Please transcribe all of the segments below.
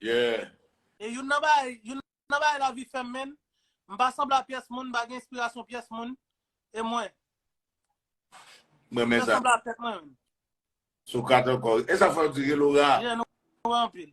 Yeah. E youn nan bagay, youn nan bagay lavi fèm menn, m pa sanble a pyès moun, m pa gen enspirasyon pyès moun, e mwen. M renmen sa. Mwen sanble a tèt mwen menm. Socrate ankò. E sa fè w di Reloura? Yeah, nou wè anpil.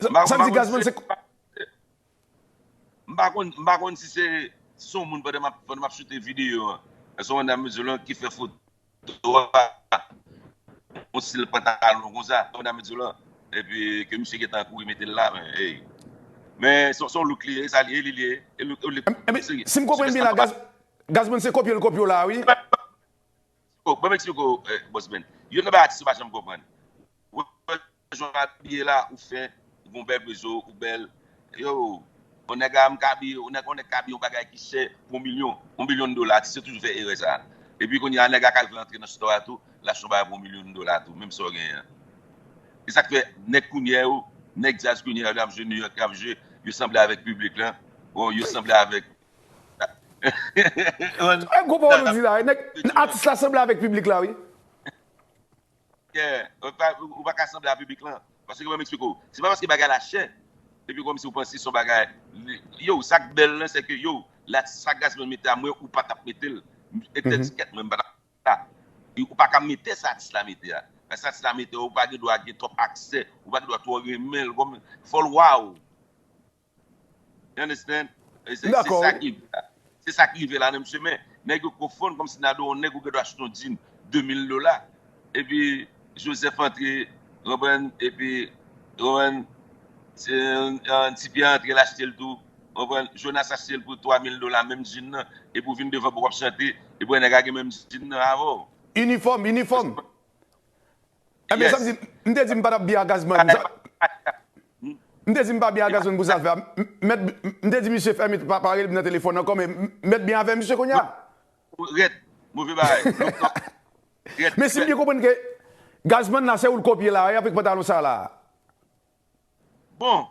M pa konn si se yon bagay serye. M pa konn, m pa konn si se yon moun pandan m ap choute videyo an. Èske yon dam mesye lan ki fè foto a, yon stil pantalon konsa, yon dam mesye lan. Epi ke misye gentan kouri mete l la, men ey. Men se yon look li ye, e sa li ye, li li ye. E look li ye. Epi si m konprann byen la, Gazman se kopye l kopye w la a wi. Ban m eksplike w, Bossman. Yon nan bagay atis yo pa janm konprann. Jan w abiye la ou fen, ou gen yon bèl prezo, ou bèl. Yoo, yon nèg la menm ka abiye, yon nèg ka abiye yon bagay ki chè pou yon milyon, yon milyon dola. Atis yo toujou fè erè sa a. Epi kounye a nèg la ka vle antre nan stò a tou, l achte yon bagay pou yon milyon dola tou, menm sa w genyen an. E sa k fè nèg kounye yo, nèg djaz kounye yo lè y ap jwe Nouyòk, y ap jwe, yo sanble avèk piblik lan, ou yo sanble avèk. Gwo pawòl ou di la wi, nèg, atis la sanble avèk piblik la wi. Kè, ou pa ka sanble a piblik lan. Paske ban m eksplike w. Se pa paske bagay la chè, epi kòmsi ou panse se yon bagay, yow, sa k bèl lan, se ke yow, la, sa Gazzman mete a, mwen ou pa t ap mete l. Etèdiskèt, mwen m pa t ap mete sa. Ou pa ka mete sa atis la mete a. Sa atis la mete a, ou pa gen dwa gen twòp aksè, ou pa gen dwa twò renmen l. Fò l waww. You understand? Se sa ki rive la. Se sa ki rive la nan mesye men. Nèg yo konfonn kòmsi Nadò yon nèg ou gen dwa achte yon djin 2000 dola. Epi Joseph antre, konprann, epi, konprann, Tipierre antre l achte l tou, konprann, Jonas achte l pou 3000 dola menm djin nan, epi ou vin devan pou w ap chante, epi wè nèg la gen menm djin nan avè w. Inifòm, inifòm. Ebyen sa vle di, m te di m pa tap byen ak Gazman pou sa. M te di m pa byen ak Gazman pou zafè a. Mèt, m te di misye fè m pa rele m nan telefòn ankò men mèt byen avè misye kounya. Rèd, move bagay, look top, rèd. Men si m byen konprann ke Gazman la se ou l kopye la a avèk pantalon sa la a. Bon,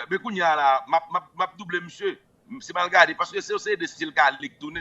men kounya la a map double misye. Se m al gade paske se yo se 2 stil ka lik tounen.